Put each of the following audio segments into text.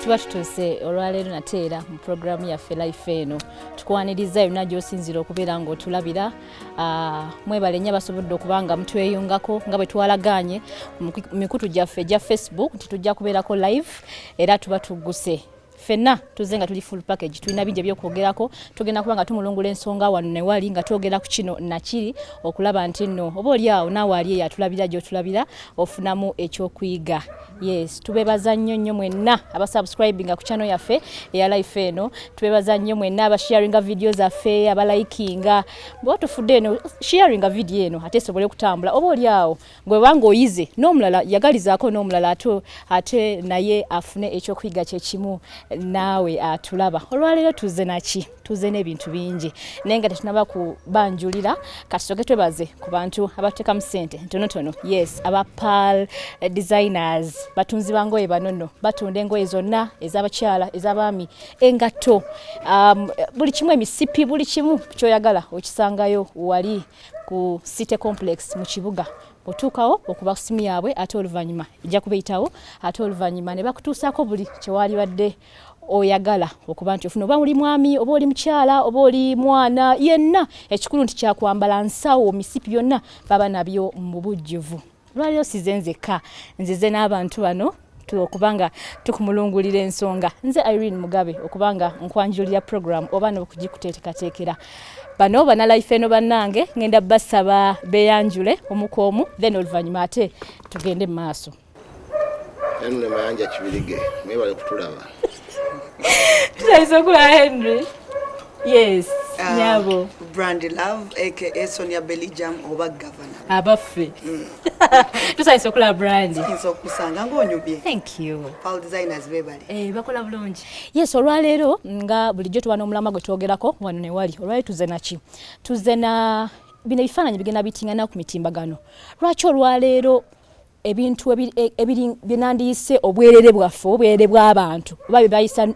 tuba tutuuse olwaleero nate era mu puroguramu yaffe life eno tukwaniriza yonna gyosinzira okubeera ngaotulabira ah, mwebale nnyo abasobodde okuba nga mutweyungako nga bwe twalagaanye mikutu gyaffe egya facebook nti tujja kubeerako live era tuba tugguse fenna tuze nga tuli full package tulina bingi ebyokwogerako tugenda kuba nga tumulungula ensonga wano newali nga twogera ku kino nakiri okulaba nti nno oba oli awo naawe ali eyo atulabira gyotulabira ofunamu ekyokuyiga yes tubebaza nnyo nnyo mwenna abasubscribinga ku channel yaffe eya life eno tubebaza nnyo mwenna abasharinga vidiyo zaffe abalayikinga bwatufudde eno sharinga vidiyo eno ate esobole okutambula oba oli awo gwe banga oyize n'omulala yagalizaako n'omulala ate ate naye afune ekyokuyiga kyekimu naawe atulaba olwaleero tuze naki tuze n'ebintu bingi naye nga tetunaba kubanjulira katusoke twebaze ku bantu abatutekamu sente ntonotono yes aba pal eh, designers batunzi bangoye banono batunda engoye zonna ez'abakyala ez'abaami engatto um, buli kimu emisipi buli kimu kyoyagala okisangayo wali ku city complex mu kibuga otuukawo okuba simu yaabwe ate oluvannyuma ejja kubeyitawo ate oluvannyuma ne bakutuusaako buli kyewalibadde oyagala okuba nti ofuna oba oli mwami oba oli mukyala oba oli mwana yenna ekikulu nti kyakwambala nsawo misipi yonna baba nabyo mu bujjuvu lwaliro size nzekka nzize n'abantu bano okubanga tukumulungulira ensonga nze irene mugabe okubanga nkwanjulira program oba nokugikuteetekateekera bano banalife eno bannange ngenda basaba beyanjule omukoomu then oluvannyuma ate tugende mu maaso mayanja kibirige mwebale kutulaba tutayise okulaba henry Yes, uh, nyabo. Brandy Love aka Sonia Belly Jam oba governor. Abaffe. Mm. Tusayise okulaba Brandy. Tusayise okusanga ng'onyubye. Thank you. Paul designers bebali. Eh, bakola bulungi. Yes, olwaleero nga bulijjo tuba n'omulama gwe twogerako wano ne wali. Olwaleero tuze naki? Tuze na bino ebifaananyi bigenda bitingana ku mitimbagano. Lwaki olwaleero ebintu byenandiyise obwerere bwaffe obwerere bw'abantu oba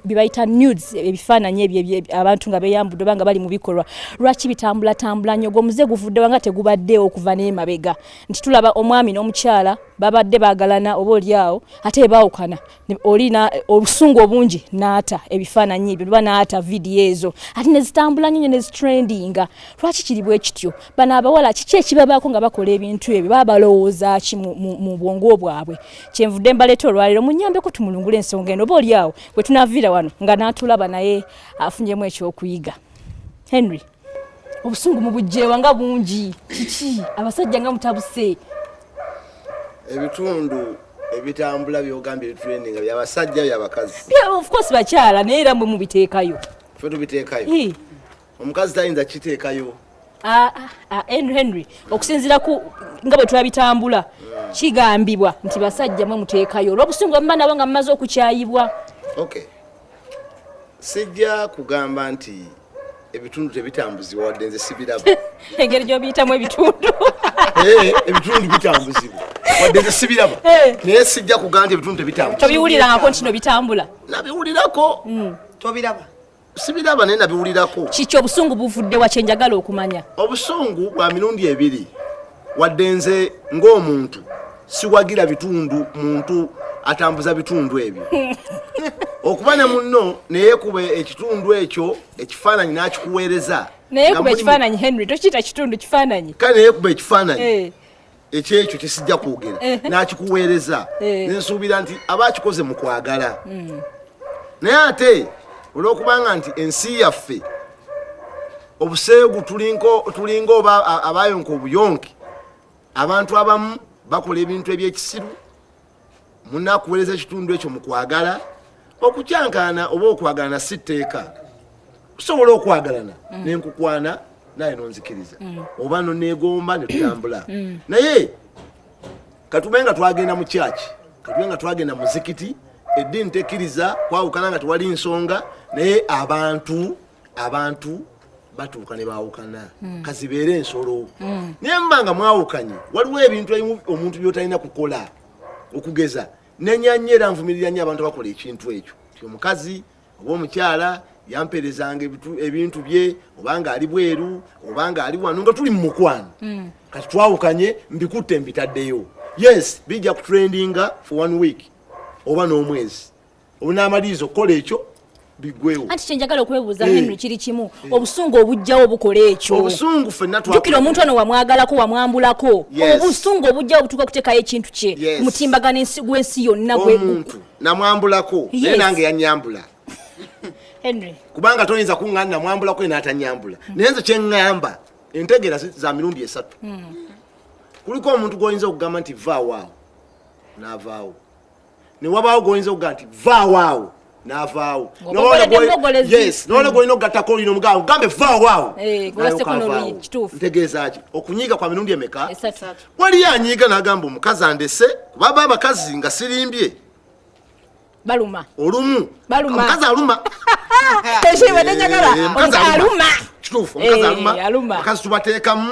byebayita nudes ebifaananyi ebyo abantu nga beyambudde oba nga bali mu bikolwa lwaki bitambulatambula nnyo ogwo omuze guvuddewa nga tegubaddeewo okuva n'emabega nti tulaba omwami n'omukyala babadde bagalana oba olyawo ate baawukana oli obusungu obungi naata ebifaananyi ebyo luba naata vidiyo ezo ate nezitambula nyonyo nezitrendinga lwaki kiri bwe kityo bano abawala kiki ekibabaako nga bakola ebintu ebyo baba balowooza ki mu bwongo bwabwe kyenvudde mbaleeta olwaliro munyambeko tumulungula ensonga eno oba oli awo bwe tunaviira wano nga naatulaba naye afunyemu ekyokuyiga henry obusungu mubujjeewa nga bungi kiki abasajja nga mutabuse ebitundu ebitambula byogambye ebituleninga byabasajja byabakazi ofcourse bakyala naye era mwe mubiteekayo fe tubiteekayo omukazi tayinza kiteekayo ah, ah, ah, henry henry okusinzira ku nga bwe twabitambula hmm. kigambibwa nti basajja mwe muteekayo olwobusungu bamuma nabo nga mumaze okukyayibwa okay sijja kugamba nti ebitundu tebitambuzibwa wadde nze sibiraba engeri gyobiyitamu ebitundu eh, ebitundu bitambuzibwa wadde nze sibiraba eh. naye sijja kugamba nti ebitundu tebitambuzibwa tobiwulirangako ntino bitambula nabiwulirako hmm. tobiraba sibiraba naye nabiwulirako kiki obusungu buvudde wa kyenjagala okumanya obusungu bwa mirundi ebiri wadde nze ng'omuntu siwagira bitundu muntu atambuza bitundu ebyo okuba ne munno neyekuba ekitundu ekyo ekifaananyi n'akikuweereza neyekuba ekifaananyi henry tokiyita kitundu kifaananyi kale neyekuba ekifaananyi eh. ekyekyo kyesijja kwogera eh. n'akikuweereza eh. nensuubira nti aba akikoze mu kwagala hmm. naye ate olw'okubanga nti ensi yaffe obuseegu tulinga oba abayonka obuyonki abantu abamu bakola ebintu ebyekisiru munakuwereza ekitundu ekyo mukwagala okukyankaana oba okwagalana si tteeka tusobola okwagalana mm. nenkukwana naye nonzikiriza mm. oba nonegomba netutambula mm. naye katube nga twagenda mu kyaki katube nga twagenda muzikiti eddiini tekkiriza kwawukana nga tewali nsonga naye abantu abantu batuuka ne baawukana hmm. kazibeera ensolo hmm. naye mba nga mwawukanye waliwo ebintu ebimu omuntu byotalina kukola okugeza nenyanya era nvumirira nyo abantu bakola ekintu ekyo ti omukazi oba omukyala yamperezanga ebintu bye obanga ali bweru obanga ali wano nga tuli mu mukwano hmm. kati twawukanye mbikutte mbitaddeyo yes bijja kutrendinga for one week oba n'omwezi onaamaliriza okukola ekyo bigwewo anti kyenjagala okwebuuza eh. henry kiri kimu eh. obusungu obujjawo bukola ekyo obusungu fenajukira omuntu ono wamwagalako wamwambulako obusungu obujjawo butuuka okuteekayo ekintu kye mutimbagano gwensi yonna omuntu namwambulako naye nange yanyambula henry kubanga toyinza kuŋŋana namwambulako enaatanyambula hmm. naye nze kyeŋŋamba entegeera za mirundi esatu hmm. kuliko omuntu gwoyinza okugamba nti vaawaawo naavaawo ne wabaawo gwoyinza okuga nti vaawaawo navaawo nolina gwolina okugattako olina omugawo gambe vaawaawo eh, ntegeezaki okunyiiga kwa mirundi emeka waliyo anyiiga nagamba omukazi andese kubaba abakazi nga sirimbye baluma olumu omukazi aluma ekibadde eh, njagala aluma kituufu omukazi eh, aluma abakazi tubateekamu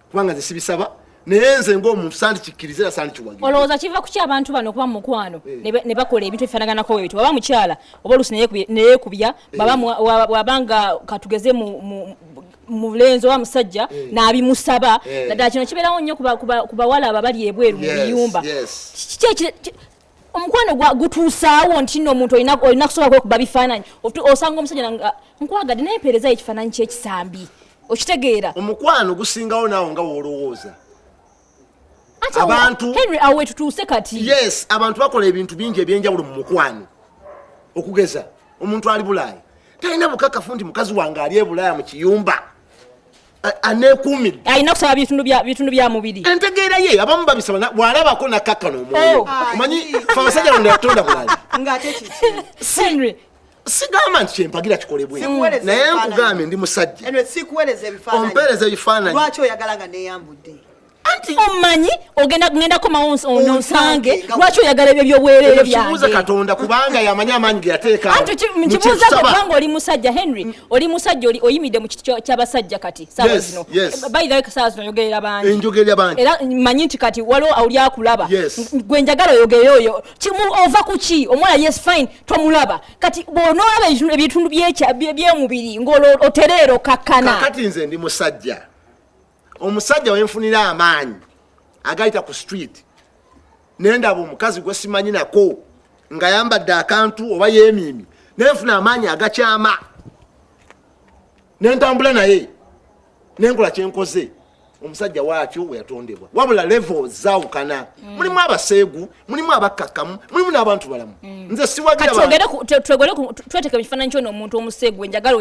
kubanga nze sibisaba naye nze ngaomuntu sandikikkiriza era sandikiwagira olowooza kiva kuki abantu bano okuba mu mukwano eh. ne bakola ebintu ebifaanaganako ebyo waba mukyala oba oluusi neyekubya eh. wabanga katugeze mulenzi oba musajja eh. nabimusaba naddala kino kibeerawo nnyo ku bawala abo abali ebweru mu biyumba omukwano gutuusaawo nti no omuntu olina kusobola kwekuba bifaananyi osanga omusajja nga nkwagadde naye mpeerezayo ekifaananyi kyekisambi okitegeera omukwano gusingawo naawo nga woolowooza abantu henry awe tutuuse kati yes abantu bakola ebintu bingi ebyenjawulo mu mukwano okugeza omuntu ali bulaaya talina bukakafu nti mukazi wange ali ebulaaya mu kiyumba anekuumidde alina kusaba bitundu bya mubiri entegeera ye abamu babisaba bwalabako nakakkana omwoyo oh. omanyi fe abasajja bano yatonda bulala sigamba nti kyempagira kikolebwe naye nkugambye ndi musajja ompeereza ebifaananyi anti omanyi ogenda kugenda komawo ononsange lwaki oyagala ebyo byobwerere byangekibuuza katonda kubanga yamanyi amaanyi ge yateeka anti nkibuuza kubanga oli musajja henry mm. oli musajja oli oyimidde mu kiti ky'abasajja kati saawa zino bayirawe saawa zino oyogerera bangi enjogerera bangi era manyi nti kati waliwo oli akulaba gwe njagala oyogerere oyo ova ku ki omwana yes fine tomulaba kati bw'onoolaba ebitundu by'omubiri ng'otereera okakkana kakati nze ndi musajja omusajja wenfunira amaanyi agayita ku street nendaba omukazi gwe simanyi nako nga yambadde akantu oba yemiimi nenfuna amaanyi agakyama nentambula naye nenkola kyenkoze omusajja waatyo weyatondebwa wabula levo zawukana mm. mulimu abaseegu mulimu abakkakkamu mulimu n'abantu balamu mm. nze siwagirtweteke mu kifaananyi kyona omuntu omusegwe njagala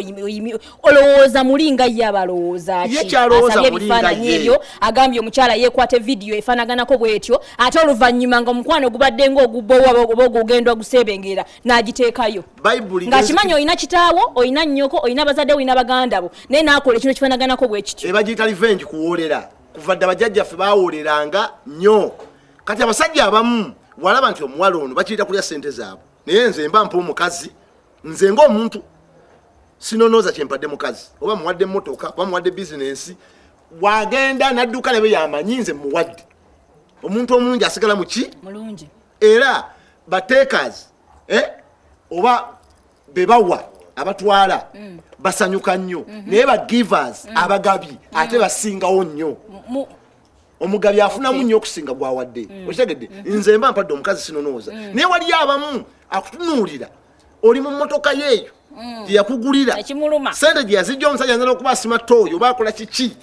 olowooza muli nga ye abalowooza kiasabye ebifaananyi ebyo agambye omukyala yeekwata evidiyo efaanaganako bwetyo ate oluvannyuma nga omukwano ogubadde nga ogubbowa oba ogugenda oguseebengerera n'agiteekayo ng'akimanyi olina kitaawo olina nnyoko olina bazadde olina baganda bo naye n'akola ekintu ekifaanaganako bwekityo ebagiyita livengi kuwoolera kuva dda bajjajjaffe baawoleranga nnyo kati abasajja abamu walaba nti omuwala ono bakiyita kulya sente zaabwe naye nze mba mpa omukazi nze ngaomuntu sinonooza kyempadde mukazi oba muwadde motoka oba muwadde bizinensi wagenda nadduka nabe yamanyi nze muwadde omuntu omulungi asigala muki era batekas eh? oba bebawa abatwala mm. basanyuka nnyo mm -hmm. naye ba givers mm. abagabi mm. ate basingawo nnyo omugabi afunamu nnyo okusinga gwawadde mm. okitegedde mm. nze mba mpadde omukazi sinonooza mm. naye waliyo abamu akutunuulira oli mu mmotoka yeeyo mm. gyeyakugulira sente gyeyazijja omusajja nzala okuba asima tooyo oba akola kiki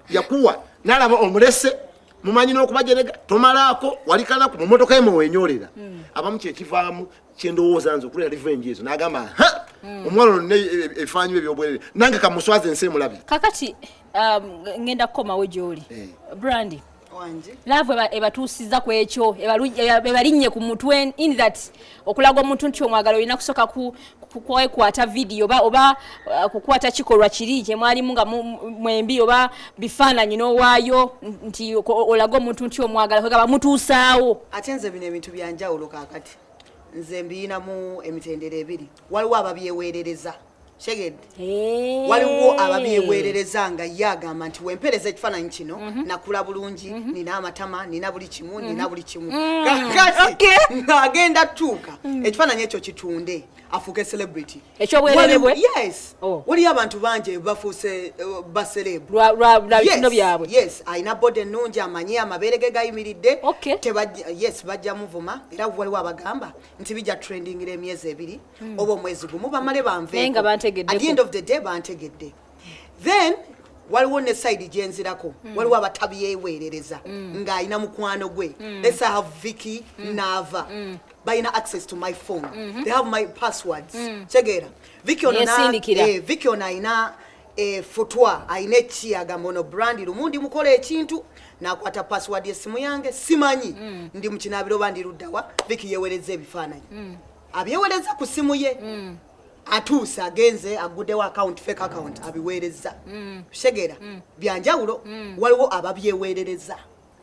yakuwa nalaba omulese mumanyi nokubajerega tomalaako walikanaku mumotoka emu wenyorera hmm. abamu kyekivaamu kyendowooza nze okulera revenge ezo nagamba ha hmm. omwana ono ebifaananyi bye byobwerere nange kamuswaza ensi emulabi kakati um, ngenda kukomawo gyoli eh. brandi laavu ebatuusiza ku ekyo ebalinnye ku mutwe in that okulaga omuntu nti omwagala olina kusooka kwekwata vidiyo oba oba uh, kukwata kikolwa kiri kyemwalimu nga mwembi oba bifaananyi n'owaayo nti olaga omuntu nti omwagala kwegaba mutuusaawo ate nze bino ebintu byanjawulo kakati nze mbiyinamu emitendera ebiri waliwo ababyeweerereza kyegedde eh. waliwo ababyeweerereza nga ye agamba nti wempereza ekifaananyi kino mhm. nakula bulungi mhm. nina amatama nina buli kimu nina mhm. buli kimu mm. kakati ng'agenda tuuka mm. ekifaananyi ekyo kitunde afuuke celebrity ekyobwerere bwe yes oh. waliyo abantu bangi bafuuse eh, ba celeb lwabitino byabwe yes alina body ennungi amanyi amabeere ge gayimiridde yes bajja muvuma era waliwo abagamba nti bijja trendingira emyezi ebiri hmm. oba omwezi gumu bamale banveeku at the end of the day bantegedde then waliwo ne side gyenzirako mm. waliwo abatabyeweerereza mm. ng'alina mukwano gwe mm. lets have vicky mm. naava mm. balina access to my phone mm -hmm. they have my passwords mm. kyegeera vicky ono eh, vicky ono alina eh, futwa alina eki agamba ono brandi lumu ndi mukola ekintu nakwata password yesimu yange simanyi mm. ndi mukinabiro oba ndi luddawa vicky yewereza ebifaananyi mm. abyewereza ku simu ye mm. atuuse agenze aggudewo akawunti fake akawunti abiweerezza mm. segera mm. byanjawulo mm. waliwo ababyeweerereza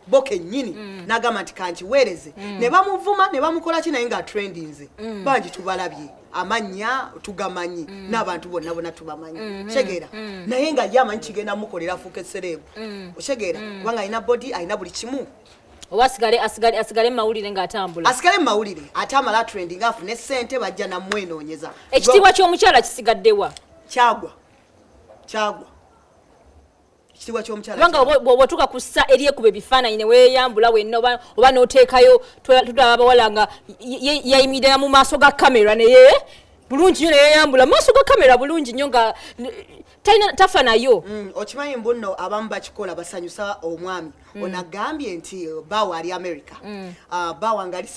bo kennyini n'agamba nti kankiweereze ne bamuvuma ne bamukola ki naye nga atrendinze bangi tubalabye amannya tugamanyi n'abantu bonna bona tubamanyi mm-hmm. segera naye nga ye amanyi kigenda mukolera afuuka esereebu osegera kubanga alina bodi alina buli kimu oba asigale asigale asigale mawulire nga atambula asigale mawulire ate amala trending afu ne sente bajja na mwenonyeza ekitibwa kyo mukyala kisigadde wa kyagwa kyagwa kitibwa kyo mukyala banga obo tuka kussa eriye kube bifana ine we yambula we no oba no tekayo tudaba bawala nga yayimidira mu maso ga camera ne ye bulungi nyo ne yambula maso ga camera bulungi nyo nga talina tafa nayo mm, okimanyi mbu nno abamu bakikola basanyusa omwami mm. ono agambye nti uh, bawo ali america mm. uh, bawo nga ali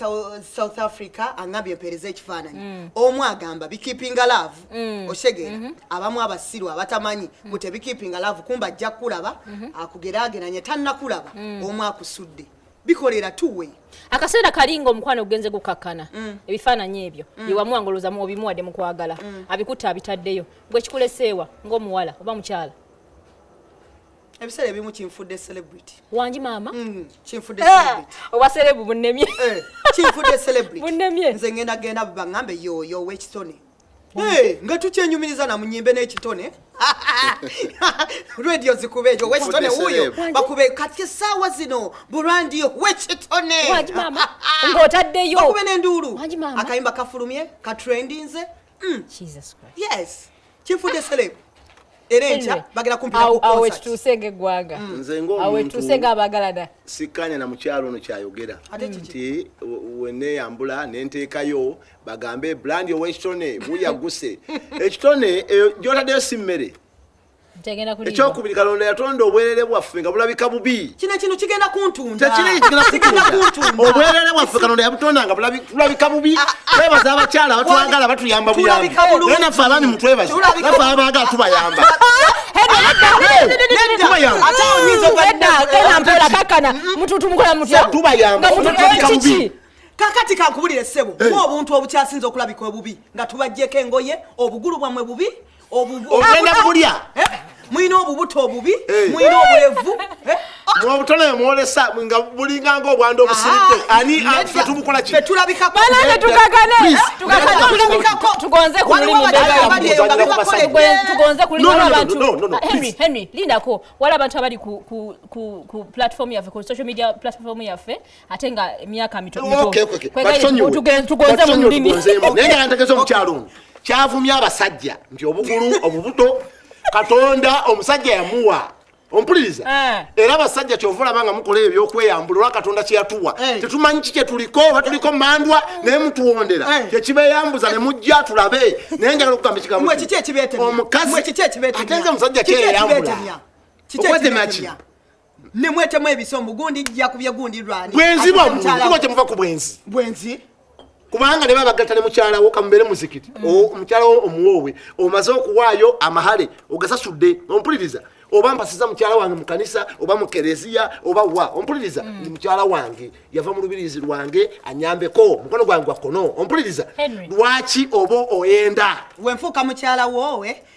south africa angambye mpeereza ekifaananyi mm. omu agamba bikipinga love mm. okitegera mm -hmm. abamu abasiru abatamanyi mm. mbu tebikipinga love kumba ajja kukulaba mm -hmm. akugerageranye tannakulaba mm. omu akusudde bikolera tuwe akaseera kalinga omukwano ogenze gukakkana mm. ebifaananyi ebyo mm. yewamuwangolozamu obimuwadde mukwagala mm. abikutte abitaddeyo gwe kikuleseewa ng'omuwala oba mukyala ebiseera ebimu kinfudde celebrity wangi maama mm, kinfudde eh, owa serebu bunnemye eh, kinfudde celebrity bunnemye nze ngenda genda baŋambe yoyo owekitone eh, nga tukyenyumiriza na munyimbe n'ekitone radio zikuba ekyo wekitone wuyo bakube kati esaawa zino burandiyo wekitone ng'otaddeyo bakube n'enduulu akayimba kafulumye katrendinze Mm. Jesus Christ. Yes. Kifudde celeb. Era enkya bagala kumpira ku concert. Awo ekituuse ng'eggwanga. Mm. Nze ng'omuntu. Awo ekituuse ng'abaagalana. Sikkaanya na mukyalo ono kyayogera. Ate kiki? Nti weneeyambula ne nteekayo bagambe brand ow'ekitone guyagguse. Ekitone eh, gy'otaddeyo si mmere. ekyokubiri kalonda yatonda obwerere bwaffe nga bulabika bubi kino kino kigenda kuntundaobwerere bwaffe kalonda yabutonda nga bulabika bubi ah, ah. twebaza abakyala batwagala batuyamba buyambi naye naffe abaami mutwebaze naffe abaagala tubayamba tubayamba kakati kankubulire sebo mu obuntu obukyasinza okulabika obubi nga tubajjeko engoye obugulu bwamwe bubi ogenda kulya eh? mulina obubuto obubi eh. mulina obulevu eh? mubutone mwolesa nga bulinga nga obwanda obusiridde ah, ani fe tubukola kihenry lindako wali abantu abali ku platform yaffe ku social media platform yaffe ate nga emyaka mitotugonze mu lulimi naye nga ntegeza omukyalo ono kyavumya abasajja nti obugulu obubuto katonda omusajja yamuwa ompuliriza eh. era abasajja kyova olaba nga mukola ebyokweyambula olwa katonda kyeyatuwa eh. tetumanyi ki kyetuliko oba tuliko mandwa eh. naye mutuwondera kyekibeyambuza ne mujja tulabe naye njagala okugamba ekigambo omukazi ate nze omusajja kyeyeyambula okwetemaki ne mwetemu ebiso mbu gundi jja kubye gundi lwani bwenzi bwa kuba kyemuva ku bwenzi bwenzi kubanga ne babagatta ne mukyala wo kamubeere muzikiti mm. omukyala wo omuwoowe omaze okuwaayo amahale ogasasudde ompuliriza oba mpasiza mukyala wange mu kanisa oba mu kereziya oba wa ompuliriza mm. ndi mukyala wange yava mu lubirizi lwange anyambeko mukono gwange gwa kkono ompuliriza lwaki oba oyenda wenfuuka mukyala woowe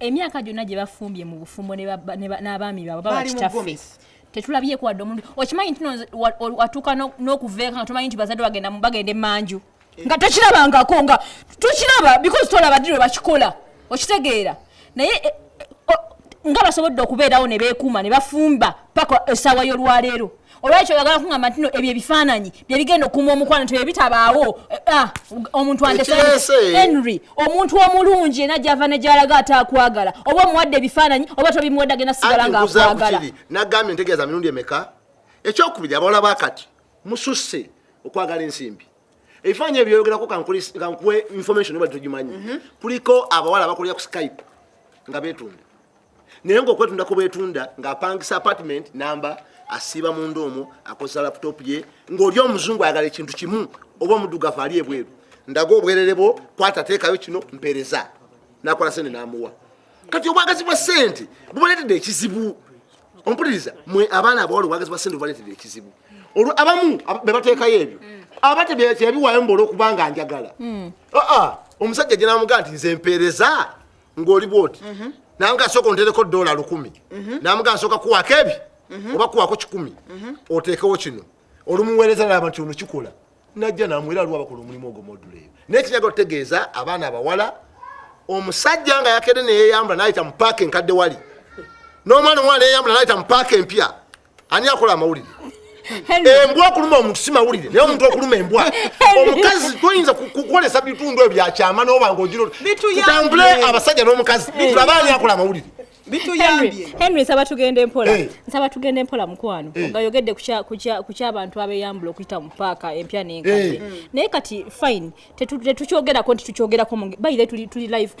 emyaka gyonna gye bafumbye mu bufumbo n'abaami baabwe baba kitaffe tetulabyeko wadde omuntu okimanyi nti watuuka n'okuveeka nga tomanyi nti bazadde bagenda bagenda emanju eh. nga tokirabangako nga tokiraba because tolaba ddi lwe bakikola okitegeera naye eh, eh, nga basobodde okubeerawo ne beekuuma ne bafumba paka essaawa y'olwaleero olwekyo oyagala kungamba ntino ebyo ebifaananyi byebigenda okuuma omukwano nti byebitabaawo eh, ah, omuntu andehenry omuntu omulungi ena gyava ne gyalaga ate akwagala oba omuwadde ebifaananyi oba tobimuwadde agenda sigala nga akwagala nagambye ntegeeza mirundi emeka ekyokubiri abawala bakati mususse okwagala ensimbi ebifaananyi ebyoyogerako kankuwe information oba togimanyi mhm. kuliko abawala abakolera ku skype nga betunda naye ngaokwetunda kubwetunda ngaapangisa apartment namba asiiba munda omwo akozesa laptop ye ngaoli omuzungu ayagala ekintu kimu oba omudugavu ali ebweru ndaga obwerere bwo kwata teekayo kino mpereza nakola sente namuwa kati obwagazi bwa sente bubaletedde ekizibu ompuliriza mwe abaana abawala obwagazi bwa sente bubaletedde ekizibu olwo abamu bebateekayo ebyo aba teyabiwayo mbola okubanga njagala hmm. ah, ah. omusajja gyenamugaa nti nze mpereza ng'oli bwoti mhm. nange asooka ontereko dola lukumi mhm. namuga nsooka kuwako ebi mhm. oba kuwako kikumi oteekewo kino olumuweereza nalaba nti ono kikola najja namwera aliwo abakola omulimu ogwo modula eyo naye kinyaga otegeeza abaana abawala omusajja nga yakedde neyeyambula nayita mu paaka enkadde wali n'omwana omwana neyeyambula nayita mu paaka empya ani akola amawulire embwa okuluma omuntu si mawulire naye omuntu okuluma embwa omukazi toyinza kukolesa bitundu ebyo byakyama noba nga ogiro tutambule abasajja n'omukazi tulabe ani akola amawulire henry nsaba tugende mpola eh. nsaba tugende mpola mukwano eh. nga yogedde ku kyabantu abeyambula okuyita mu paaka empya nenkadde eh. naye kati fine tetukyogerako nti tukyogerako baire tuli live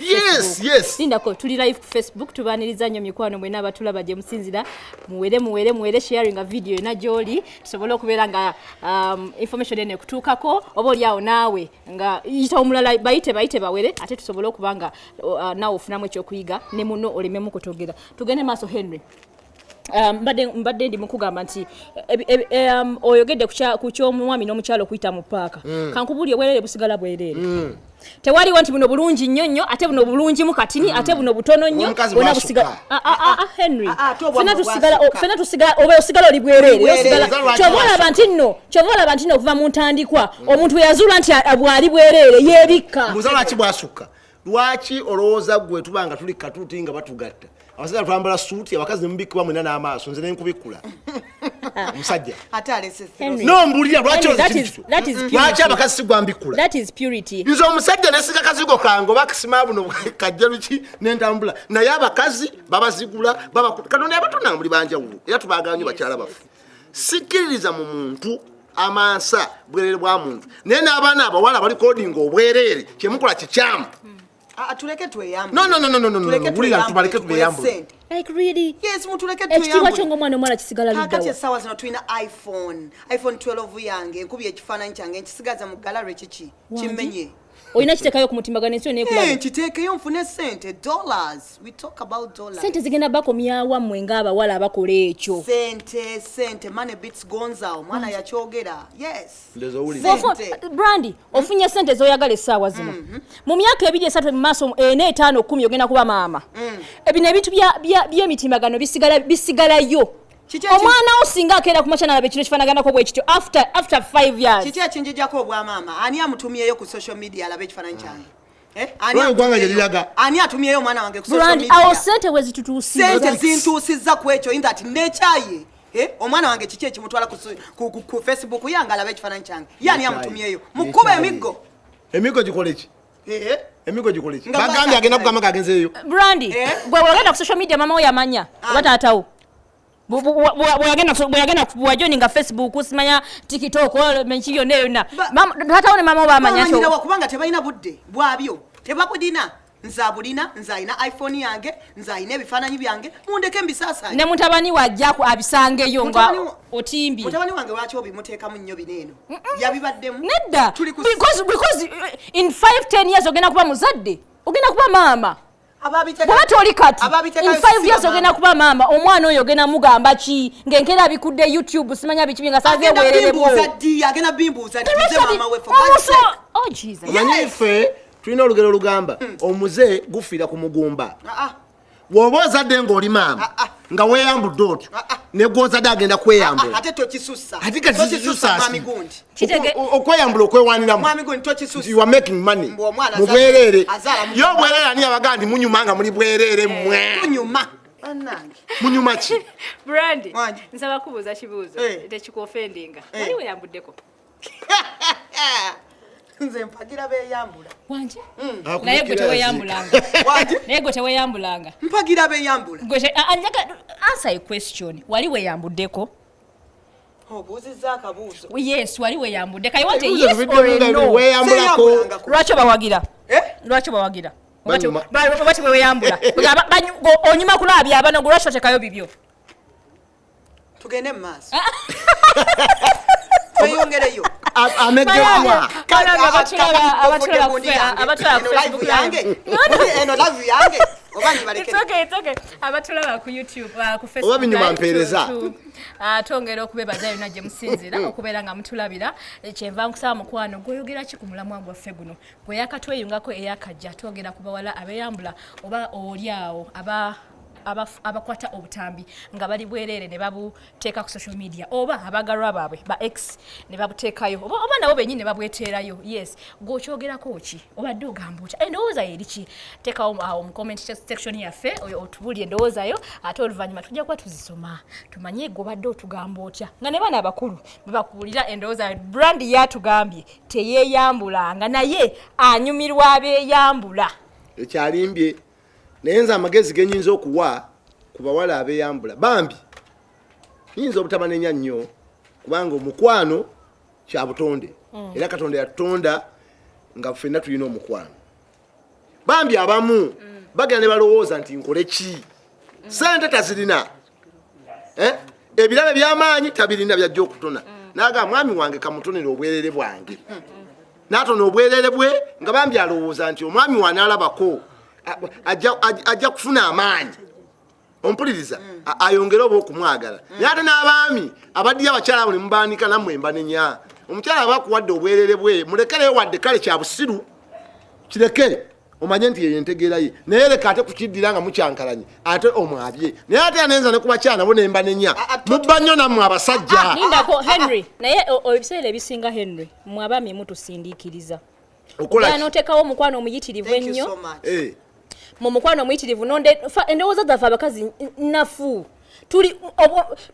lindako tuli live ku facebook tubaniriza nnyo mikwano mwena abatulaba gye musinzira muwere muwere muwere sharinga vidiyo yona gyoli tusobole okubeera nga um, information eno ekutuukako oba olyawo naawe nga yita omulala bayite bayite bawere ate tusobole okuba nga uh, naawe ofunamu ekyokuyiga ne muno olememu kutogera tugende maaso henry Um, mbadde mbadde ndi mukugamba nti um, oyogedde ku ky'omwami n'omukyalo okuyita mu paaka mm. kankubuli obwereere busigala bwereere mm. tewaliwo nti buno bulungi nnyo nnyo ate buno bulungimu katini mm. ate buno butono nnyo bona busigala ah, ah, ah, henry fena tusigala oba osigala oli bwereere kyova olaba nti nno kyova olaba nti nno okuva mu ntandikwa omuntu weyazuula nti bwali bwereere yebikka lwaki olowooza gwe tuba nga tuli katuuti nga batugatta abasajja twambala suuti abakazi nemubikkibwa mwena n'amaaso nze nenkubikkula omusajja no mbulira lwaki lwaki abakazi sigwambikkula nze omusajja nesiga kazigo kange oba kisima buno kajja luki nentambula naye abakazi babazigula katonda yabatonda muli banjawulo era tubagalanyo bakyala bafu sikkiririza mu muntu amansa bwerere bwa muntu naye n'abaana abawala bali kodinga obwereere kyemukola kikyamu ah, ah, ekitiibwa kyo ngaomwana omuwala kisigala kakati essaawa zino tulina iphone iphone 12 yange nkubi ekifaananyi kyange nkisigaza mu galary kiki kimenye mm. olina kiteekayo ku mutimbagano ensi oneekulaba eh, kiteekeyo nfune sente dollars we talk about dollars sente zigenda bakomyawa mmwe ng'abawala abakola ekyo sente sente money beats gonza omwana mm. yakyogera yes brandi mm. ofunye sente z'oyagala essaawa zino mm-hmm. mu myaka ebiri esatu mu maaso ena eh, etaano kumi ogenda kuba maama mm. ebino ebintu by'emitimbagano bisigalayo omwana wo singa akeera kumakya nalaba ekiro kifanaganako bwekityo after after 5 years kiki ekinjijako obwamaama ani amutumyeyo ku social media alaba ekifananyi kyange eh? ani atumyeyo omwana wange awo sente wezitutuusisente zintuusizza ku ekyo in that nekyaye eh? omwana wange kiki ekimutwala ku facebook yange alaba ekifananyi kyange ye ani amutumyeyo mukuba emiggo emiggo gikoleki eh emigo gikole ki bagambye agenda kugamba kagenze eyo brandi eh? gwe wagenda ku social media mama wo yamanya ah. oba taatawo bweyagenda wajoni nga facebook simanya tiktok menki yonna yonna taatawo ne mama wo bamanyakubanga tebalina budde bwabyo tebabulina nze abulina nze alina iphone yange nze alina ebifaananyi byange mundeke mbisaasanye ne mutabani wajjaku abisangeyo nga otimbye mutabani wange lwaki obimuteekamu nnyo bino eno yabibaddemu nedda because because eh, in 5 10 years ogenda kuba muzadde ogenda kuba maama bwaba toli kati in 5 years ogenda kuba maama omwana oyo ogenda mugamba ki ng'enkeera abikudde youtube simanya biki bye nga sazewererebuomanyife tulina olugero olugamba hmm. omuze gufiira ku mugumba ah, ah. woba ozadde ngaoli maama ah, ah. nga weyambudde otyo ah, negwozadde agenda kweyambulaokweyambula okwewaniramubwerere yo obwerere ani abaga ndi munyuma nga muli bwerere eh, mwe munyuma ki brandi nsaba kubuuza kibuuzo eh. tekikuofendinga eh. wali weyambuddeko nze mpagira beyambula wangi hmm. ah, naye gwe teweyambulanga naye gwe teweyambulanga mpagira beyambula answer a question wali weyambuddeko obuuzizza akabuuzo yes wali weyambudde kaye wate yes or no weyambulako lwaki obawagira eh? lwaki obawagira bati weweyambula onyuma kulaabya abana gwe lwaki otekayo bibyo tugende mu maaso tweyongereyo amegeddwa eno live yange abatulaba ku youtube uh, ku oba binyuma mpeereza uh, twongera okubebaza yona gye musinzira mm. okubeera nga mutulabira eh, kyenva nkusaba mukwano gwoyogera ki ku mulamwa gwaffe guno gwe yakatweyungako eyakajja twongera kubawala abeyambula oba oli awo aba abakwata obutambi nga bali bwereere ne babuteeka ku social media oba abagalwa baabwe ba x ne babuteekayo oba nabo benyini ne babweteerayo yes gwokyogerako ki obadde ogamba otya endowooza yo eriki teekawo awo mu comment section yaffe oyo otubuli endowooza yo ate oluvannyuma tujja kuba tuzisoma tumanye gwobadde otugamba otya nga ne baana abakulu bebakuwulira endowooza yo brand yatugambye teyeyambulanga naye anyumirwa abeyambula ekyalimbye naye nze amagezi genyinza okuwa ku bawala abeyambula bambi nyinza obutabanenya nnyo kubanga omukwano kya butonde mm. era katonda yatutonda nga fenna tulina omukwano bambi abamu mm. bagenda ne balowooza nti nkole ki mm. sente tazirina eh? ebirabo ebyamaanyi tabirina byajja okutona mm. naga mwami wange kamutonera obwerere bwange mm. natona obwerere bwe nga bambi alowooza nti omwami wane alabako ajja kufuna amaanyi ompuliriza mm. ayongere oba okumwagala naye ate n'abaami abaddiyo abakyala abo ne mubaanika nammwe mbanenya omukyala aba akuwadde obwerere bwe mulekereyo wadde kale kya busiru kireke omanye nti eyo entegeera ye naye leka ate kukiddira nga mukyankalanye ate omwabye naye ate anenza ne kubakyana bo nemba nenya ah, ah, mubba nnyo nammwe abasajja ah, nindako henry naye ebiseera ebisinga henry mwe abami mutusindiikiriza okolanoteekawo omukwano omuyitirivu ennyo eh. mu mukwano omuyitirivu endowooza zaffe abakazi nafu tuli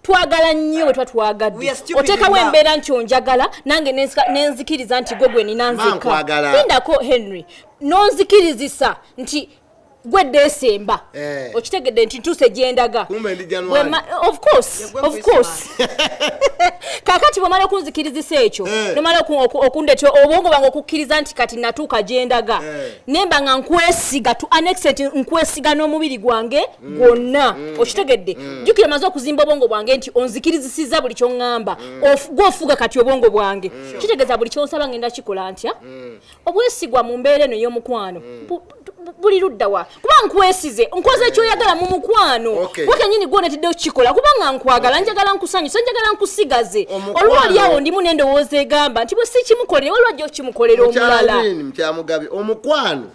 twagala nnyo bwe twa twagadde oteekawo embeera nti onjagala nange nenzikiriza nti gwe gwe nina nzikindako henry nonzikirizisa nti gwe dde esemba eh. okitegedde nti ntuuse gyendaga kakati bwemala okunzikirizisa ekyo eh. nomala okundetya obwongo bange okukkiriza nti kati natuuka gyendaga eh. nemba nga nkwesiga to annexet nkwesiga n'omubiri gwange mm. gwonna mm. okitegedde mm. jukira omaze okuzimba obwongo bwange nti onzikirizisiza buli kyoŋŋamba gwofuga kati obwongo bwange kitegeeza buli kyonsaba ngenda kikola ntya obwesigwa mu mbeera eno ey'omukwano buli luddawa kuba nkwesize nkoze ekyoyagala mu mukwano wakenyini gwonetedde okukikola kubanga nkwagala njagala nkusanyusa njagala nkusigaze olwo oliawo ndimu nendowooza egamba nti bwe sikimukolere waliwo ajja okukimukolera omulala omukwano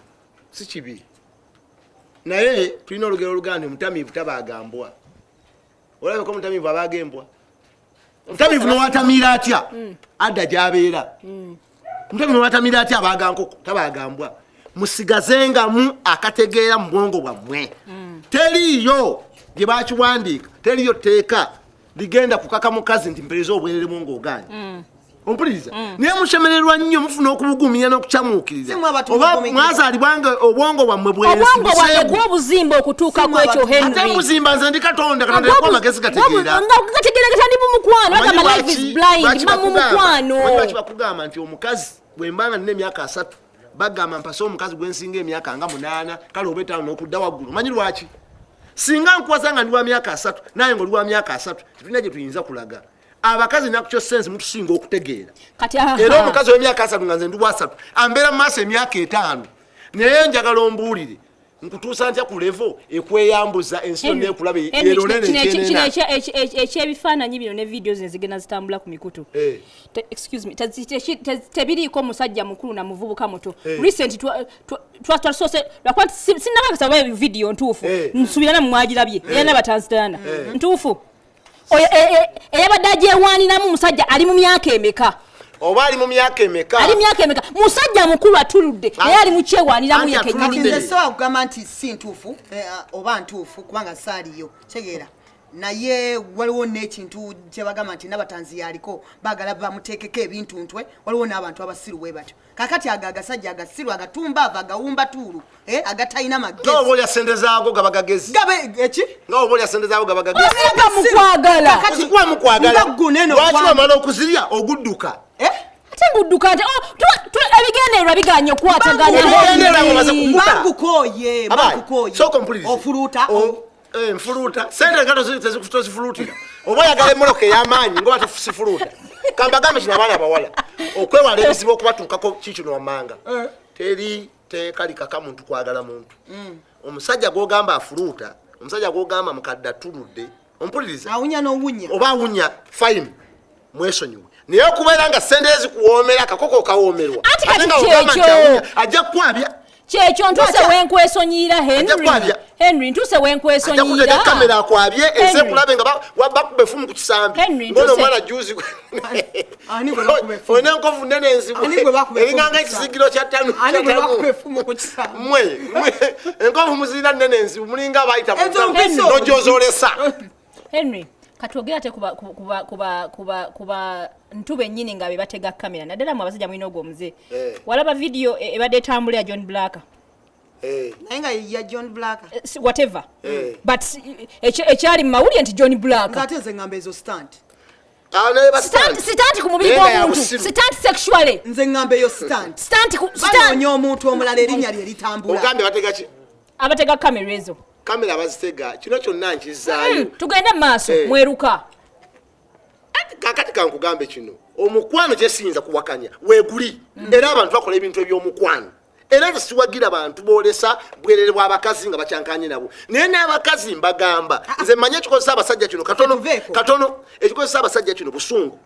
si kibi naye tulina olugero oluganda omutamiivu tabaaga mbwa olabeko omutamiivu abaaga embwa omutamiivu nowatamiira atya mm. adda gyabeera mm. omutamiivu nowatamiira atya abaaga nkoko tabaaga mbwa musigazengamu akategeera mu bwongo bwammwe mm. teriiyo gye bakiwandiika teriyo tteeka ligenda kukaka mukazi nti mpereza obwereremu ng'ogaanyi mm. ompuliriza mm. naye musemererwa nnyo mufuna okubugumya n'okucamuukiriza oba mwazaalibwa nga obwongo bwammwe bwebwobuzimba okutuuka kwekyo henate muzimba nze ndi katonda katonda yakuwa amagezi gategeeragategeeragatandi mumukwano agamba life is blind mamumukwano bakugamba nti omukazi bwemba nga nina emyaka asatu bagamba mpase omukazi gwensinga emyaka nga munaana kale oba etaano nokudda waggulu manyi lwaki singa nkuwaza nga ndi wa myaka asatu naye nga oli wa myaka asatu tetulina gye tuyinza kulaga abakazi nakyo sense mutusinga okutegeera era omukazi wemyaka asatu nga nze ndi wasatu ambeera mu maaso emyaka etaano naye njagala ombuulire nkutuusa ntya ku levo ekweyambuza ensi yonna ekulaba yerolerekino ekyebifaananyi bino ne vidiyo zino zigenda zitambula ku mikutu eh. tebiriiko musajja mukulu na muvubuka muto eh. recent twasoose lwakuba sinakakasa oba vidiyo ntuufu eh. nsuubira namwe mwagirabye era nabatanzitana ntuufu oyo e, e, eyabadde agyewaaniramu musajja ali mu myaka emeka oba ali mu myaka emeka ali myaka emeka musajja mukulu atuludde naye ali mu kyewaaniramu yekenyinisobola kugamba nti si ntuufu eh, oba ntuufu kubanga saaliyo tegeera naye waliwo n'ekintu kyebagamba nti nabatanzi yaliko bagala bamuteekeko ebintu ntwe waliwo n'abantu abasiru we batyo kakati ago agasajja agasiru agatumbaava agawumba tuulu eh, agatalina magezioba olya sente zaago gaba gagezi eki eh, nga oba olya sente zaago gaba gagezimukwagalamukwagalamala okuzirya ogudduka eh? ate ngudduka nti oh, ebigendererwa biganye okwatagana Eh, nfuluuta sente nga tozifuluutira oba oyagala emoloka ey'amaanyi ngoba tofusifuluuta kambagambe kino abaana abawala okwewala ebizibu okubatuukako kikino wammanga eh. teri teeka likaka muntu kwagala muntu mm. omusajja gwogamba afuluuta omusajja gwogamba mukadde atuludde ompuliriza oba awunya fine mwesonyiwe naye okubeera nga sente ezikuwoomera akakoko kawoomerwa ate nga ogamba nti awunya ajja kukwabya kyekyo ntuse wenkwesonyiyira henry ntuse wenkwesonyiyira kamera akwabye ese kulabe nga bakuba efumu ku kisambi ngono omwana juzi olina enkovu nene enzibweeringanga ekizigiro kyatanumwe enkovu muzirina nene enzibu mulinga abayita nojozolesa Henry katwogere ate kuba kuba kuba kuba kuba ntu bennyini nga bebatega kamera naddala mu abasajja mulina ogwo omuze eh. walaba vidiyo e, ebadde etambula ya john black eh. naye nga ya john black eh, whatever but ekyali mu mawulire nti john black ate nze ngamba ezo stand ah, sitanti ku mubiri gw'omuntu sitanti sexually nze ngamba eyo stand sitanti ku sitanti omuntu omulala erinnya lye litambula ogambye bategaki abatega kamera ezo kamera bazitega kino kyonna nkizaayo hmm, tugende maaso eh. mweruka kakati kankugambe kino omukwano kyesiyinza kuwakanya weguli hmm. era abantu bakola ebintu ebyomukwano era nze siwagira bantu boolesa bwerere bwa bakazi nga bakyankanye nabo naye n'abakazi mbagamba ah, ah. nze manya ekikozesa abasajja kino katono katono ekikozesa abasajja kino busungu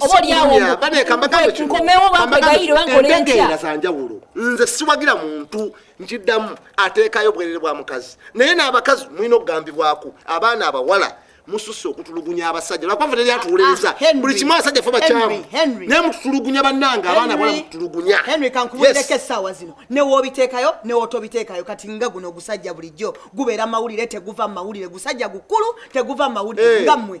oba olyawoonkomewo bankwegaire bankolentegeera za njawulo nze siwagira muntu nkiddamu ateekayo obwerere bwa mukazi naye n'abakazi mulina okugambibwako abaana abawala mususse okutulugunya abasajja lwakuba teri atuwuliriza ah, buli kimu abasajja fe bakyamu naye mututulugunya bannange abaana abawala mututulugunya henry kankubuulireko essaawa zino newoobiteekayo newootobiteekayo kati nga guno ogusajja bulijjo gubeera mawulire teguva mu mawulire gusajja gukulu teguva mu mawulire eh. nga mmwe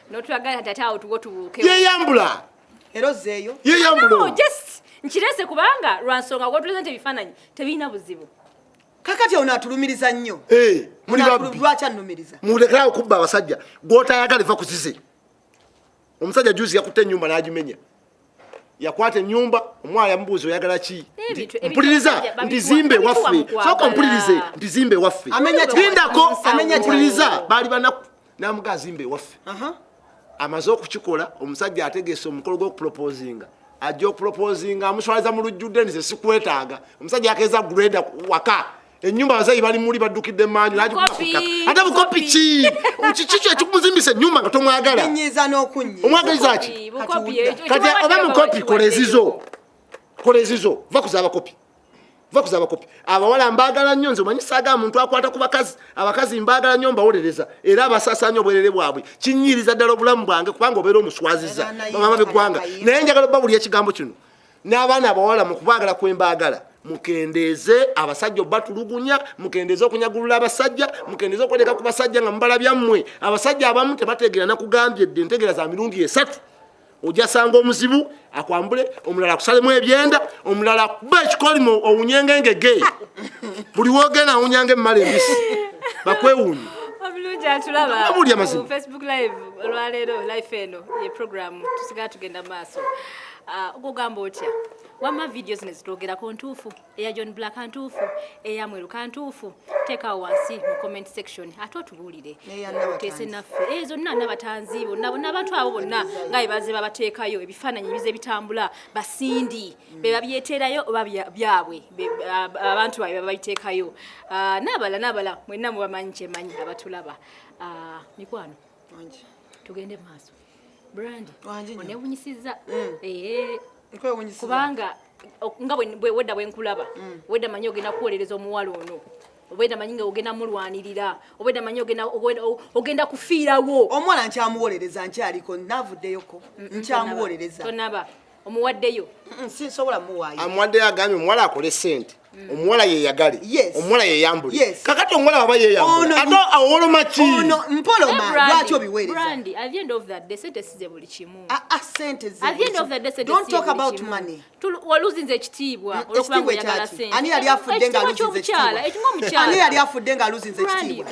notwagala tata awo tuwo tubuuke yeyambula era ozzeeyo yeyambula just nkirese kubanga lwansonga wotuleza nti ebifaananyi tebirina buzibu kakati ono atulumiriza nnyo eh, lwaki annumiriza mulekera okubba abasajja gwotayagala eva kuzize omusajja juzi yakutte enyumba n'agimenya yakwata enyumba omwana yamubuuza oyagala ki mpuliriza ntizimbe waffe soka mpulirize ntizimbe waffe lindako mpuliriza baali banaku namuga azimbe waffe amaze okukikola omusajja ategese omukolo gwokuproposinga ajja okuproposinga amuswaliza mu lujjudde nize sikwetaaga omusajja yakeeza greda waka enyumba abazayi bali muli baddukidde manju ate bukopi ki kikikyo ekikumuzimbisa enyumba nga tomwagala omwagalizaki kati oba mukopi kola ezizo kola ezizo va kuza abakopi va kuza abakopi abawala mbagala nnyo nze omanyi saaga muntu akwata ku bakazi abakazi mbagala nnyo mbawolereza era abasasaanya obwerere bwabwe kinyiriza ddala obulamu bwange kubanga obeera omuswaziza bamama beggwanga naye njagala oba buli ekigambo kino n'abaana abawala mu kubaagala kwe mbaagala mukendeeze abasajja obatulugunya mukendeeze okunyagulula abasajja mukendeeze okweleka ku basajja nga mubala byammwe abasajja abamu tebategeera nakugambye dde entegeera za mirundi esatu ojasanga omuzibu akwambule omulala akusalemu ebyenda omulala akuba ekikolimo owunyenge ngege buli wogenda awunyanga emmala embisi bakwewuunye bulungi atulaba facebook live olwaleero life eno ye programu tusigala tugenda maaso Ah, ogugamba otya wamma vidiyo zino zitwogerako ntuufu eya john black ntuufu eya mweruka ntuufu teekawo wansi mu comment section ate otubuulire oteese naffe e zonna nabatanzi bonna bonna abantu abo bonna nga bebaze babateekayo ebifaananyi ebize bitambula basindi mm. bebabyeterayo oba byabwe abantu babe babiteekayo ah, nabala nabala mwenna mubamanyi kyemanyi abatulaba ah, mikwano tugende maaso brand onewunyisiza mm. eh. kubanga nga wedda bwenkulaba mm. wedda manyi ogenda kuwolereza omuwala ono obweda manyi nga ogenda mulwanirira obweda manyi ogenda kufiirawo omuwala nkyamuwolereza nkyaliko navuddeyoko nkyamuwolereza tonaba omuwaddeyo sinsobola muwaayo amuwaddeyo agambye omuwala akole sente mm. omuwala yeyagale omuwala yeyambule kakati omuwala waba yeyambule awoloma ki mpoloma lwaki obiwerezaoluzza ekitiibwa mm, olwokubaoyagalaekitiibwa ani yali afudde nga aluzinza ekitiibwa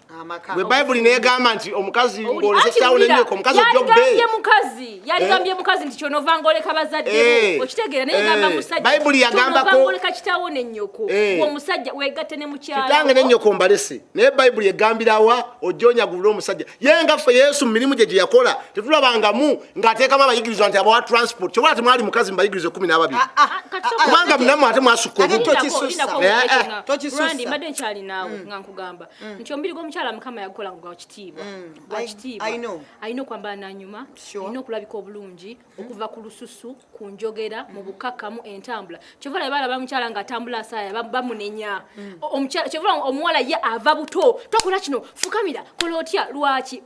gwe bayibuli negamba nti omukazi ngolesesawulenyeko omukazi ojogambye mukazi yaligambye eh? mukazi nti kyonova ngoleka bazadde eh. okitegeera naye gamba eh. musajja bayibuli yagambako ngoleka kitawo ne nyoko wo musajja wegatte ne mukyala kitange ne nyoko mbalese naye bayibuli egambirawa ojonya gubula omusajja ye nga ffe yesu mu mirimu gye gye yakola tetulabangamu ng'ateekamu abayigirizwa nti abawa transport kyobola ati mwali mukazi mubayigiriza ekumi n'ababiri ah, ah, ah, kubanga munamu ate mwasukka omu tokisusa tokisusa mbadde nkyali naawe mm. nga nkugamba mm. nti omubiri gw'omukyala mukama yagukola nga gwakitiibwa mm. gwakitiibwa alina okwambala nanyuma alina okulabika obulungi mm. okuva ku lususu ku njogera mu bukakamu entambula kyova labe balaba mukyala nga atambula asaaya bamunenya kyova omuwala ye ava buto tokola kino fukamira kola otya lwaki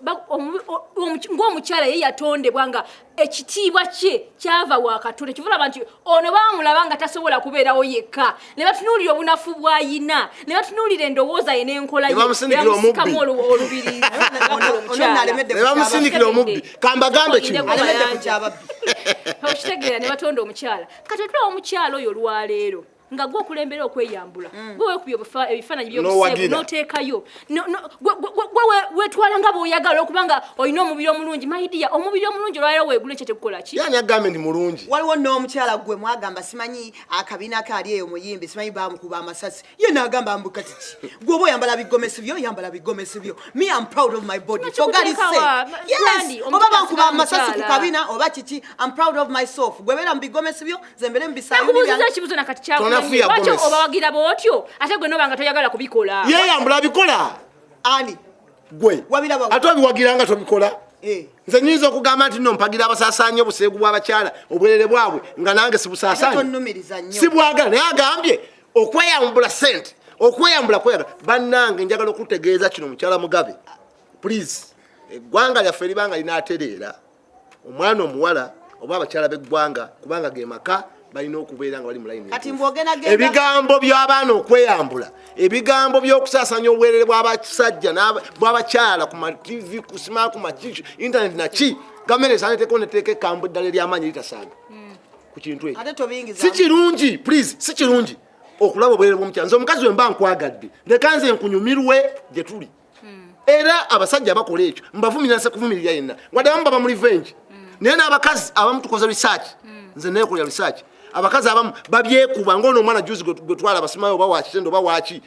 ng'omukyala ye yatondebwa nga ekitiibwa kye kyava wa katonda kyovulaba nti ono bamulaba nga tasobola kubeerawo yekka ne batunuulira obunafu bwayina ne batunuulira endowooza ye n'enkola yemusikamu olubirinebamusindikira omubbi kambagambe kinookitegeera ne batonda omukyala kati otulawo omukyala oyo olwaleero nga gwe okulembera okweyambula mm. gwe wekubya ebifaananyi byobuseegu noteekayo gwe wetwala nga bwoyagala okubanga olina omubiri omulungi maidiya omubiri omulungi olwaliro wegula ekyo tekukola ki yani agambe ndi mulungi waliwo n'omukyala gwe mwagamba simanyi akabina kaali eyo muyimbi simanyi bamukuba amasasi ye nagamba mbu kati ki gwe oba oyambala bigomesi byo oyambala bigomesi byo me am proud of my body kyogali se yes oba bankuba amasasi ku kabina oba kiki am proud of myself gwe beera mu bigomesi byo zembere mubisayunakubuuziza ekibuzo nakati kyakumanyi lwaki obawagira bootyo ate gwe noba nga toyagala kubikola yeyambula abikola ani gwe ate obiwagira nga tobikola eh. nze nyinza okugamba nti no mpagira abasasaanya obuseegu bw'abakyala obwerere bwabwe nga nange sibusasaanya sibwagala naye agambye okweyambula sente okweyambula kweyambula bannange njagala okutegeeza kino mukyala mugabe please eggwanga lyaffe libanga linaatereera omwana omuwala oba abakyala b'eggwanga kubanga ge maka balina okubeera nga bali mu layini ebigambo by'abaana okweyambula ebigambo by'okusaasanya obwerere bw'abasajja bw'abakyala ku matv ku sima ku makiki intaneti naki gavumenti esaaneteko neteeka ekkambo eddala ery'amaanyi eritasaaga hmm. ku kintu ekyo si kirungi please si kirungi okulaba obwerere bw'omukyala nze omukazi we mba nkwagadde leka nze nkunyumirwe gye tuli hmm. era abasajja abakola ekyo mbavumira nse kuvumirira yenna wadde abamu baba mu revenge hmm. naye n'abakazi abamu tukoze research hmm. nze nekola research abakazi abamu babyekuba ngaono omwana juzi gwetwala abasimayo oba wakitendo oba waki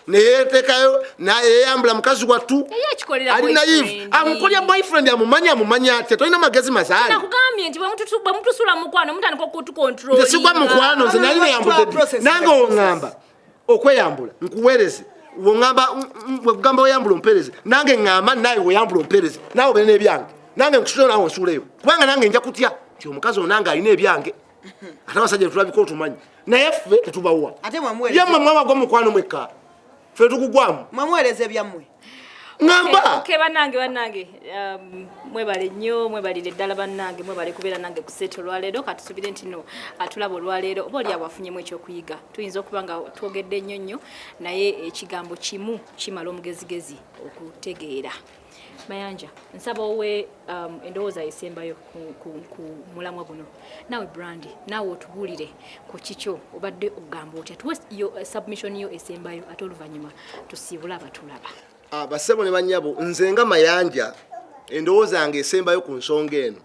neyetekayo nayeyambula mukazi wattu ali naive amukolya boyfriend amumanya amumanya atya tolina magezi mazaalisigwa mukwano nze nali neyambudde nange oŋamba okweyambula nkuweereze wongamba wegamba oyambula ompeereze nange ngamba naye weyambula ompeereze nawe obeere n'ebyange nange nkusule nawe onsuuleyo kubanga nange nja kutya nti omukazi onange alina ebyange ate abasajja tetulabika otumanyi naye ffe tetubawa yamwe mwabagwa mukwano mwekka ffe tukugwamu mwamuweereza ebyammwe ngamba okay banange banange um, mwebale nnyo mwebalire ddala banange mwebale kubeera nange ku seeta olwaleero katusubire nti no atulaba olwaleero oba oli awafunyemu ekyokuyiga tuyinza okuba nga twogedde nnyo nnyo naye ekigambo kimu kimala omugezigezi okutegeera mayanja nsaba owe um, endowooza esembayo ku mulamwa guno naawe brandi naawe otubuulire ku kikyo obadde okugamba otya tuwe uh, submission yo esembayo ate oluvannyuma tusiibule abatulaba ah, basebo ne banyabo nze nga mayanja endowooza yange esembayo ku nsonga eno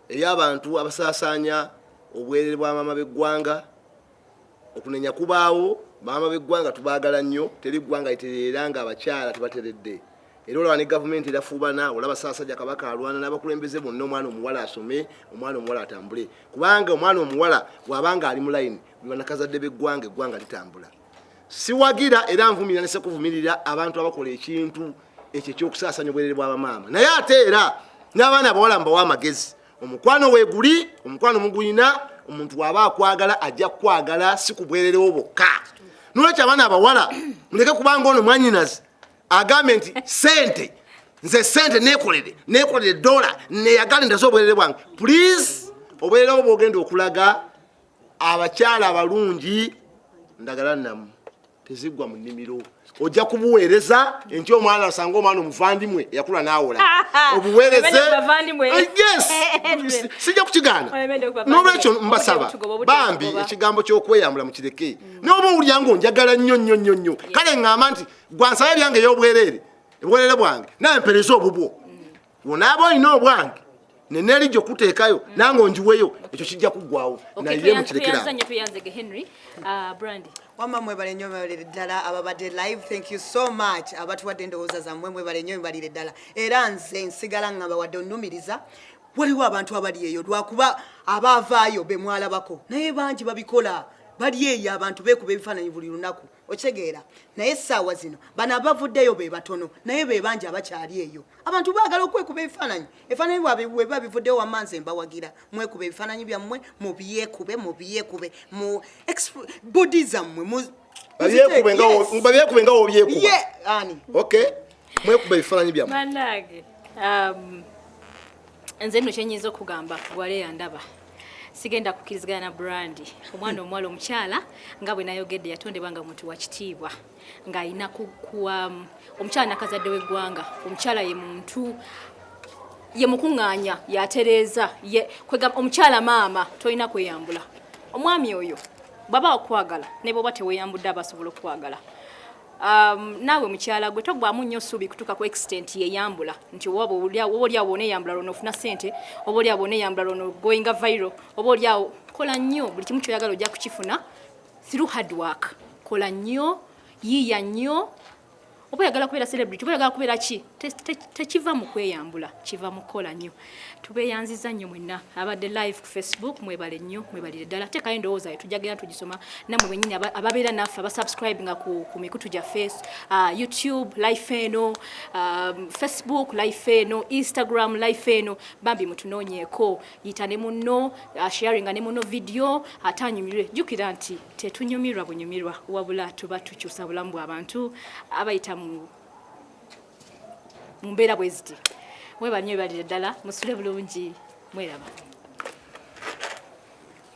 ey'abantu abasaasaanya obwerere bwa maama b'eggwanga okunenya kubaawo maama b'eggwanga tubaagala nnyo teri ggwanga litereera nga abakyala tebateredde era olaba ne gavumenti erafuubana olaba saasajja kabaka alwana n'abakulembeze bonna omwana omuwala asome omwana omuwala atambule kubanga omwana omuwala waabanga ali mu layini bwe banakazadde b'eggwanga eggwanga litambula siwagira era nvumira nese kuvumirira abantu abakola ekintu ekyo ekyokusaasanya obwerere bw'abamaama naye ate era n'abaana abawala mbawa amagezi omukwano weguli omukwano mugulina omuntu waba akwagala ajja kukwagala si kubwererewo bokka nolwekyo abaana abawala muleke kubanga ono mwanyinazi agambe nti sente nze sente nekolere nekolere dola neyagale ndaze obwerere bwange please obwerere obwogenda okulaga abakyala abalungi ndagala namu tezigwa mu nnimiro ojja kubuweereza nti omwana asanga omwana omuvandimwe yakula n'awola obuweereze eh, sijja kukigaana n'olwekyo mbasaba bambi ekigambo ky'okweyambula mu kireke mm. n'oba owulira nga onjagala nnyo nnyo nnyo nnyo kale ŋŋamba nti gwansaba ebyange ey'obwereere obwereere bwange naye mpereza obubwo onaaba olina obwange neneri gyokutekayo mm. nange onjiweyo ekyo kijja kuggwawo naye mukirekerawamwe uh, mwebale nyo mwebalire ddala ababadde live thank you so much abatuwadde endowooza zammwe mwebale nyo mwebalire ddala era nze nsigala nga bawadde onumiriza waliwo abantu abali eyo lwakuba abaavaayo bemwalabako naye bangi babikola bali eyo abantu bekuba ebifaananyi buli lunaku okitegeera naye essaawa zino bano abavuddeyo be batono naye be bangi abakyali eyo abantu baagala okwekuba ebifaananyi ebifaananyi bwabwe webiba bivuddeyo wamma nze mbawagira mwekuba ebifaananyi byammwe mubyekube mubyekube mu bodi zammwe babyekube nga wobyekuba ani okay mwekuba ebifaananyi byammwe banange um, nze nno kyenyinza okugamba wale yandaba sigenda kukirizigana na brandi omwana omuwala omukyala nga bwe nayogedde yatondebwa nga muntu wakitiibwa ng'alina kuwa um, omukyala nakazadde w'eggwanga omukyala ye muntu ye mukuŋŋaanya yatereeza ye omukyala maama tolina kweyambula omwami oyo bwaba okwagala ne bwoba teweyambudde aba asobola okukwagala Um, naawe mukyala gwe togwamu nnyo suubi kutuuka ku extent yeyambula nti oba olyawo oneyambula lwona ofuna sente oba olyawo oneyambula lwona goinga viral oba olyawo kola nnyo buli kimu kyoyagala ojja kukifuna through hard work kola nnyo yiiya nnyo oba oyagala kubeera celebrity oba oyagala kubeera ki tekiva mu kweyambula kiva mu kukola nnyo tubeyanziza nnyo mwenna abadde live ku facebook mwebale nnyo mwebalire ddala teekayo endowooza yo tujja genda tugisoma namwe benyini ababeera naffe abasubscribe nga ku, ku mikutu gya face uh, youtube life eno um, facebook life eno instagram life eno bambi mutunoonyeeko yita ne munno uh, sharinga ne munno vidiyo ate anyumirwe jjukira nti tetunyumirwa bunyumirwa wabula tuba tukyusa bulamu bw'abantu abayita mu mumbeera bwe ziti mwebali nyo ebalire ddala musule bulungi mweraba